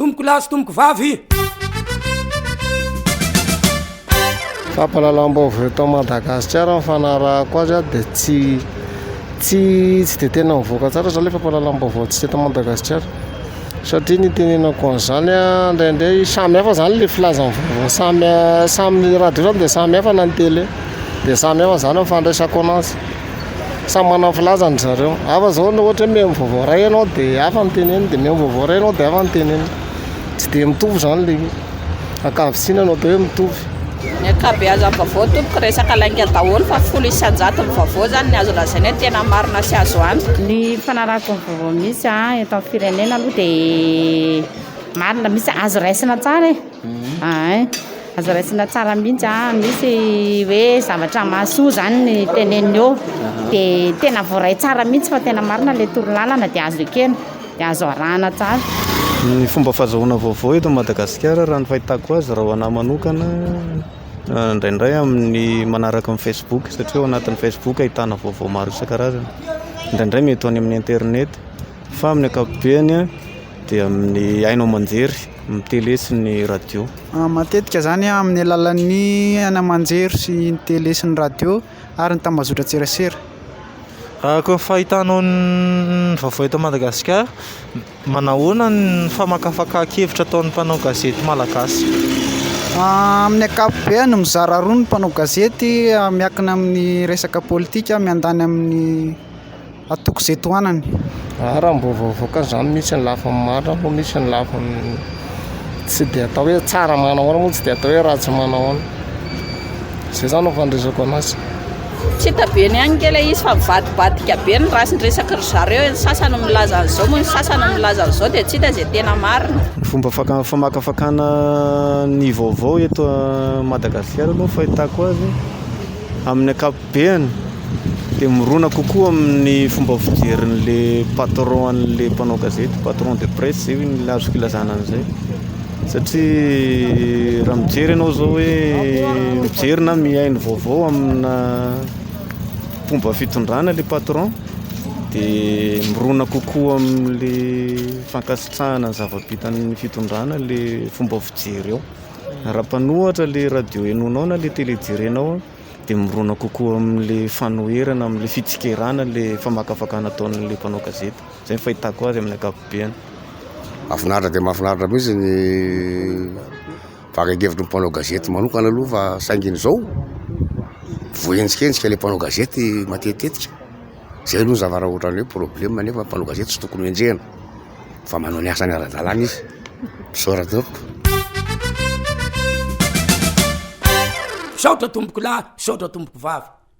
Tompoko lahy sy tompoko vavy. Fampahalalam-baovao eto Madagasikara ny fanarahako azy a dia tsy tsy tsy dia tena mivoaka tsara izany ilay fampahalalam-baovao antsika eto Madagasikara satria ny itenenako an'izany a indraindray samy hafa izany ilay filazan'ny vaovao samy samy ny radio izany dia samy hafa na ny tele dia samy hafa izany ny fandraisako ananjy. samy manana ny filazany ry zareo hafa zao raha ohatra hoe mihaino vaovao iray ianao de hafa ny teneniny de mihaino vaovao iray ianao de hafa ny teneniny tsy de mitovy zany le izy ankavitsina no atao hoe mitovy ny ankabeazan'ny vaovao tompoko resaka lainga daholo fa folo isan-jato ny vaovao zany ny azo lazaina hoe tena marina sy azo antoka ny fanarahako ny vaovao misy eto amin'ny firenena aloha de marina misy azo raisina tsara e Ain, aza raisina tsara mihitsy a, misy hoe zavatra mahasoa zany ny teneniny eo de tena voaray tsara mihitsy fa tena marina le torolalana de azo ekena de azo arahana tsara. Ny fomba fazahoana vaovao eto Madagasikara raha ny fahitako azy raha ho anahy manokana indraindray amin'ny manaraka ny facebook satria ao anatin'ny facebook ahitana vaovao maro isan-karazany, indraindray mety ho any amin'ny internet fa amin'ny ankapobeny dia amin'ny haino aman-jery. amin'ny tele sy ny radio. Matetika zany amin'ny alalan'ny haino aman-jery sy ny tele sy ny radio ary ny tambazotran-tserasera. Raha koa ny fahitanao ny vaovao eto Madagasikara, manahoana ny famakafakan-kevitra ataon'ny mpanao gazety malagasy? Amin'ny ankapobeny, mizara roa ny mpanao gazety miankina amin'ny resaka politika miandany amin'ny. Atoko izay tohanany. Aah raha mbola vao avoaka izany misy ny lafiny marina fa misy ny lafiny tsy dia atao hoe tsara manahoana moa tsy dia atao hoe ratsy manahoana. Izay izany no fandreseko anazy. Tsy hita be ny any nge ilay izy fa mivadibadika be ny race ny resaky ry zareo e, ny sasany milaza an'izao moa ny sasany milaza an'izao dia tsy hita izay tena marina. Ny fomba faka- famakafakana ny vaovao eto Madagasikara aloha ny fahitako azy amin'ny ankapobeny. ankapobeny dia mirona kokoa amin'ny fomba fijerin'le patron an'le mpanao gazety, patron de presse zay hoy ny azoko ilazana an'izay satria raha mijery ianao zao hoe mijery na mihaino vaovao amina mpomba fitondrana le patron dia mirona kokoa amin'le fankasitrahana ny zava-bitan'ny fitondrana le fomba fijery ao raha mpanohatra le radio henoinao na le tele jerenao dia mirona kokoa amin'ilay fanoherana, amin'ilay fitsikerana ilay famakafakana ataon'ilay mpanao gazety. Izay ny fahitako azy amin'ny ankapobeny. Mahafinaritra dia mahafinaritra mihitsy ny fakan-kevitry ny mpanao gazety manokana aloha fa saingy ny izao voaenjikenjika ilay mpanao gazety matetitetika. Izay aloha ny zava-raha ohatran'ny hoe problema nefa ny mpanao gazety tsy tokony ho enjehina. fa manao ny asany ara-dalàna izy, misaotra tompoko. Misaotra tompokolahy, misaotra tompoko vavy.